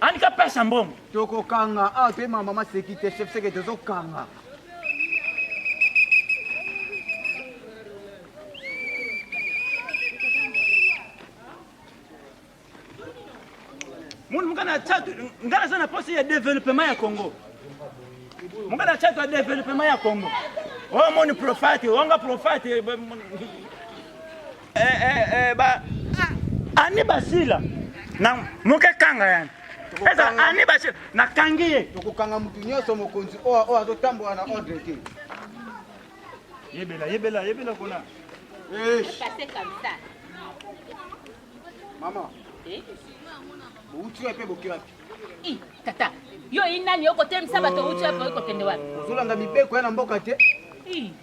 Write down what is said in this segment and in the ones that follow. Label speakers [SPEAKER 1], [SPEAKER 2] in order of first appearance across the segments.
[SPEAKER 1] Anika pesa mbongo. Tokokanga awa
[SPEAKER 2] toye mama mama seki te chef seke tozokanga.
[SPEAKER 1] Mundu mukana ya chatu ngana sana posi ya development ya Congo. Mukana ya chatu ya development ya Congo. Oh mon profite, onga profite. eh, eh, eh, ba ani basila na moke kanga yani eza ani basila nakangi ye tokokanga motu nyonso
[SPEAKER 2] mokonzi oyo oyo azotambola na ordre te yebela
[SPEAKER 1] yebela yebela kuna
[SPEAKER 2] mama eh? bouti wapi mpe boki wapi tata
[SPEAKER 3] yo inani okotemisa bato outi wapi okokende wapi ozolanda mibeko ya na
[SPEAKER 2] mboka te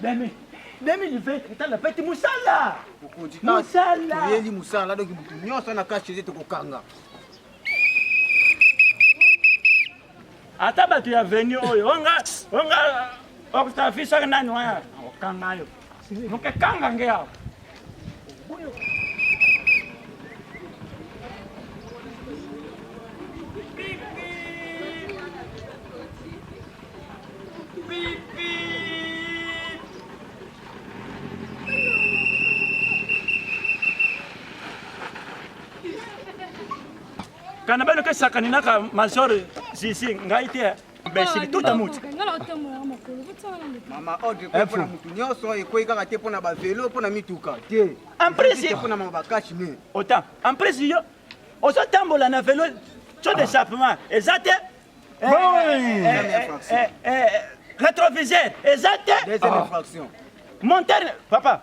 [SPEAKER 1] Dame, 2020 etala peti musala. Okonzi ka. Musala. Yeli musala
[SPEAKER 2] donc mutu nyonso na cash chez tokokanga.
[SPEAKER 1] Ata bato ya venu oyo onga onga okutafiso nani wana okanga yo. Mokekanga ngeawa. kana bano kesakani naka major zizi ngai te imbecile tout à mouti mama
[SPEAKER 2] ordre mpo mpona motu nyonso ekwei kaka te mpo na bavelo mpo na mituka te emprese mpo na
[SPEAKER 1] mama bakashi ne
[SPEAKER 2] otan emprese
[SPEAKER 1] yo ozotambola na velo co d'échappement eza te rétroviseur eza te deuxième infraction
[SPEAKER 2] monter
[SPEAKER 1] papa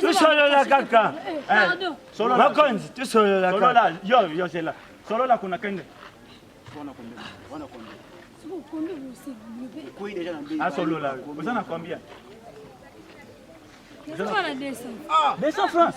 [SPEAKER 4] tosolola kaka bakonzi
[SPEAKER 1] tosolola
[SPEAKER 5] kaka yo yo zela
[SPEAKER 1] solola kuna kende
[SPEAKER 2] asolola oza
[SPEAKER 1] na combien
[SPEAKER 4] 200 francs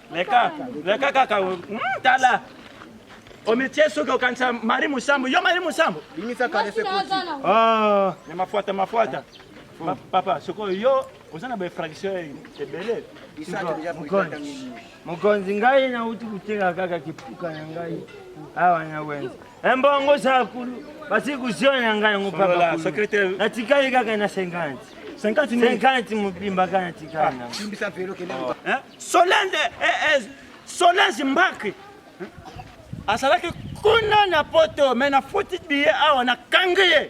[SPEAKER 4] leka
[SPEAKER 1] leka kaka hmm, tala omitie soki okanisa mari mosambo yo mari mosambo bimisa kalese koti
[SPEAKER 2] ah, ya
[SPEAKER 1] mafuata mafuata papa sikoyo yo oza na bainfraction ebele
[SPEAKER 2] mokonzi ngai
[SPEAKER 5] nauti koteka kaka kipuka na ngai awa na wenza Embongo zakulu basi kuziona na ngai yango papa
[SPEAKER 1] natikali kaka na 50
[SPEAKER 5] 50 mobimba kaka natikali na solende
[SPEAKER 1] solange mbaki azalaki kuna na poto me nafuti biye awa nakangi ye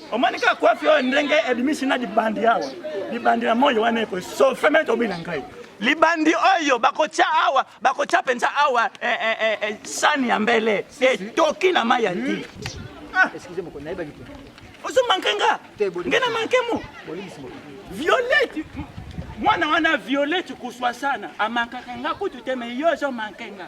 [SPEAKER 1] omoni kaka kwafi oyo ndenge ebimisi na libandi awa libandi na moi wana ekosofe me tobina ngai libandi oyo bakotya awa bakotya mpenza awa eh, eh, eh, eh, sani ya mbele etoki na mai ya nti
[SPEAKER 2] ah. ozomanke nga
[SPEAKER 1] nge na manke mo violete mwana wana violete kuswa sana amankaka nga kutu te me yo ozomanke nga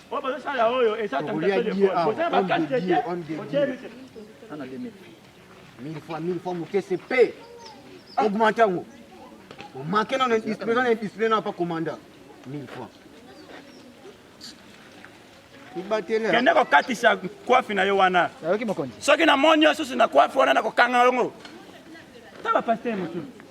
[SPEAKER 2] mille fois mille fois moke se pe augmente yango omake nano indiscipline na indiscipline na pa commanda mille fois kende kokatisa
[SPEAKER 1] kwafi na yo wana soki na
[SPEAKER 2] moni yo susu
[SPEAKER 1] na kwafi wana na kokanga yango ta bapaster mosusu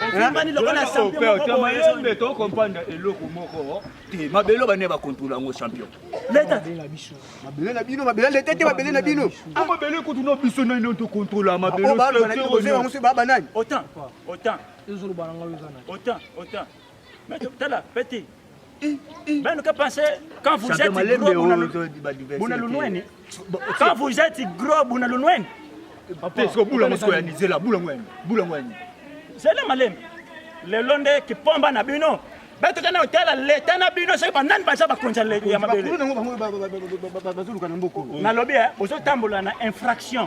[SPEAKER 2] ovimbani
[SPEAKER 1] lokola champion to comprendre
[SPEAKER 6] eloko moko te mabelo bane ba contrôle yango champion leta na
[SPEAKER 1] biso mabele
[SPEAKER 2] na bino mabele leta te mabele na bino ko mabele ko tuno
[SPEAKER 6] biso na ndio to contrôle mabelo ba
[SPEAKER 2] ba nani autant
[SPEAKER 1] autant autant autant Mais tala petit. Même que penser quand vous êtes gros Bunalunweni. Quand vous êtes gros Bunalunweni. Papa, est-ce que
[SPEAKER 6] bula mosiko ya nizela bula ngweni bula ngweni. Zela
[SPEAKER 1] malembe. Lelo nde kipomba na bino. Bato kana otala leta na bino soki banani baza bakonzi ya mabele.
[SPEAKER 2] Nalobi eh,
[SPEAKER 1] ozotambola na infraction.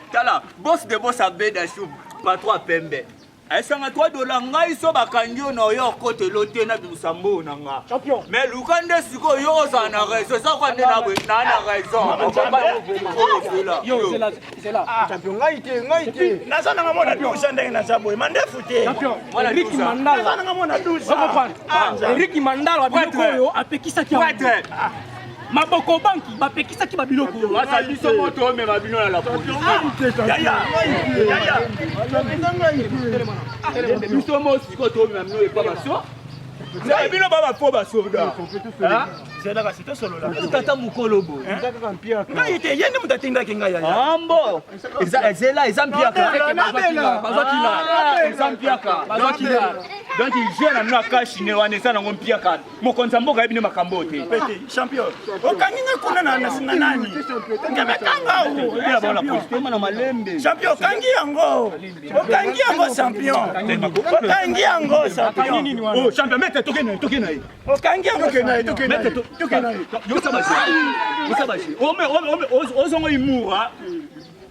[SPEAKER 6] tala boss de boss abeda shu patro pembe esanga 3 dola ngai so bakangi yo na oyo okotelo te na bimisa mboo na nga mais luka
[SPEAKER 7] nde sikoyo
[SPEAKER 6] yo ozala na raison eza kwa nde na na raison naza
[SPEAKER 7] nanga mwana
[SPEAKER 1] dusa ndenge naza boye mandefu te eriki
[SPEAKER 7] mandala biloko oyo apekisaki maboko banki bapekisaki babiloko basa biso moto omema
[SPEAKER 6] bino na la police biso mo siko toomema bino epa baso bino ba bafo basoda
[SPEAKER 1] tata mokolo bo
[SPEAKER 6] ngai te
[SPEAKER 1] ye nde moto atindaki ngai yayambo
[SPEAKER 6] ezela eza mpiakabazwakila donc je na bino akashi ne wana eza nango mpiaka mokonzi ya mboka ayebi nde makambo oyo te champion
[SPEAKER 1] okangi nga kuna na nasinga nani ngemekanga
[SPEAKER 6] na malembe champion okangi yango
[SPEAKER 1] okangi yango champion okangi yango champion oh, champion mete toke
[SPEAKER 6] na ye toke na ye okangi yango
[SPEAKER 1] toke
[SPEAKER 6] na ye toke na ye toke na ye yosa baje yosa baje ozongo imura